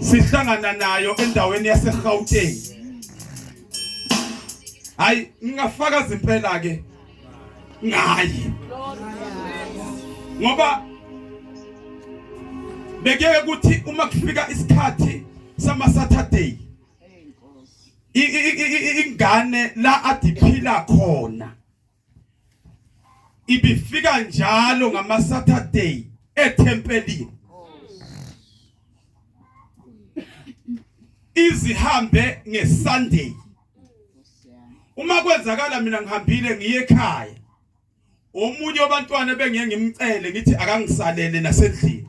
sihlangana nayo endaweni yaseGauteng hayi ngingafakaza impela ke ngayi ngoba bekeke ukuthi uma kufika isikhathi sama Saturday ingane la adiphila khona ibifika njalo ngama Saturday ethempelini izihambe ngeSunday uma kwenzakala mina ngihambile ngiye ekhaya omunye wabantwana bengiye ngimcele ngithi akangisalele nasendlini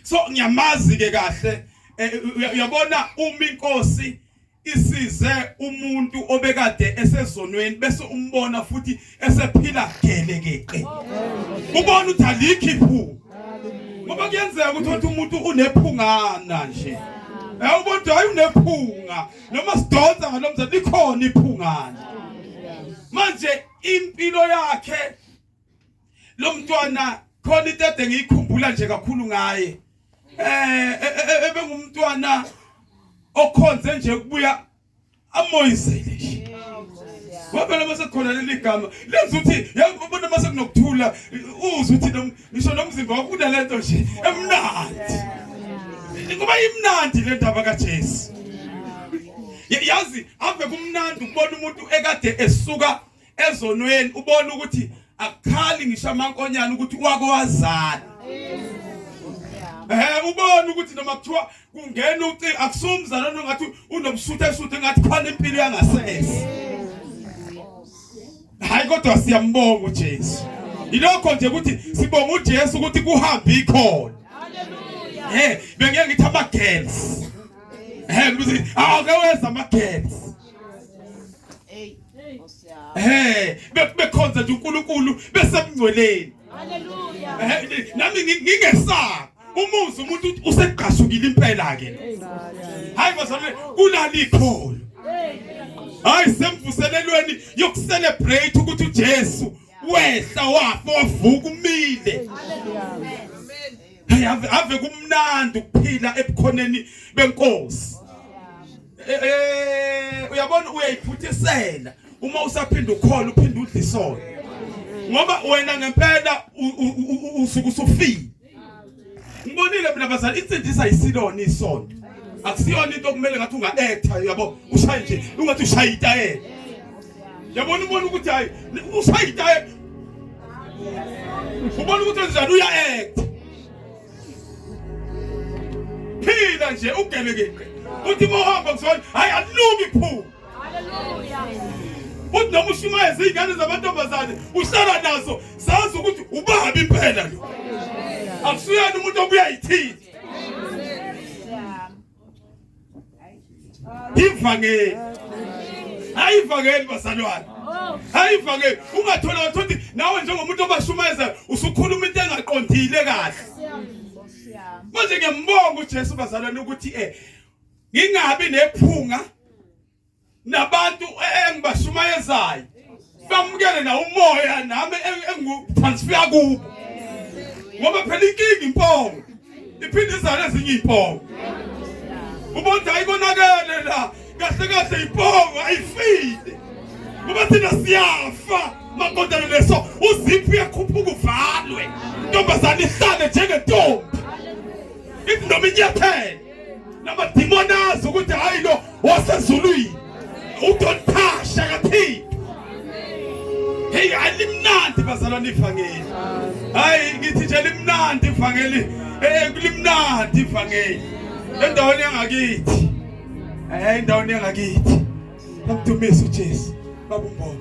so ngiyamazi ke kahle eh, uyabona uma inkosi Isize umuntu obekade esezonweni bese umbona futhi esephila gelekeqe. Ubona ukuthi alikho iphupho. Ngoba kuyenzeka ukuthi uthi umuntu unephungana nje. Eh ubona ukuthi hayi unephunga noma sidonsa ngalomza likhona iphungana. Manje impilo yakhe lo mntwana khona into ede ngiyikhumbula nje kakhulu ngaye eh e, e, e, ebengumntwana okhonze nje kubuya amoyizele nje ngoba noma sekukhona leli gama lenza ukuthi yabona uma sekunokuthula uzwe ukuthi ngisho nomzimba wakho unalento nje emnandi kuba imnandi le ndaba kaJesu yazi ave kumnandi ukubona umuntu ekade esuka ezonweni ubona ukuthi akukhali ngisho amankonyana ukuthi wako wazana Eh ubona ukuthi noma kuthiwa kungena uci akusumzana nongathi unomsuthu esuthu engathi khona impilo yangasese. Hayi kodwa siyambonga uJesu. Ilokho nje ukuthi sibonga uJesu ukuthi kuhambe ikhona. Haleluya. Eh bengeke ngithi ama girls. Eh ngithi awake ah, wenza ama girls. Eh, bekhonza nje uNkulunkulu besemngcweleni. Haleluya. Eh, nami ngingesaba. Umuzi umuntu usegqashukile impela ke. Hayi bazalwane kulala ikholo. Hayi semvuselelweni yokucelebrate ukuthi uJesu wehla wafa wavuka umile. Haleluya. Hey ave kumnandi ukuphila ebukhoneni benkosi. Eh, eh, uyabona uyayiphuthisela uma usaphinda ukhola uphinde udla isono ngoba wena ngempela usuke usufile ngibonile mina bazali insindisa isilona isono akusiyona into okumele ngathi unga-etha yabo ushaye nje ungathi ushaye itayela yabona ubona ukuthi hayi ushaye itayela ubona ukuthi enjani uya-etha phila nje ugelekile uthi mohamba kusona hayi alungi phuma uthi noma ushumayeza iy'ngane zamantombazane uhlala nazo zazi ukuthi ubabi impela lo akusuyena umuntu obuyayithini ivangeli hayi ivangeli bazalwane hayi ivangeli ungathola wathothi nawe njengomuntu obashumayeza usukhuluma into engaqondile kahle manje ngiyambonga uJesu bazalwane ukuthi eh ngingabi nephunga nabantu engibashumayezayo bamukele na umoya nami engitransfer kubo ngoba phela inkinga impongo iphinde izale ezinye impongo ubonda ayikonakele la kahle kahle impongo ayifile ngoba thina siyafa makondana leso uziphi uyakhuphuka uvalwe intombazane ihlale njengentombi ithi noma inyathele namadimoni azi ukuthi hhayi lo wasezulwini udonthasha kathini heyi hayi limnandi bazalwane ivangeli hayi ngithi nje limnandi ivangeli um limnandi ivangeli endaweni yangakithi um endaweni yangakithi namdumisa ujesu babumbono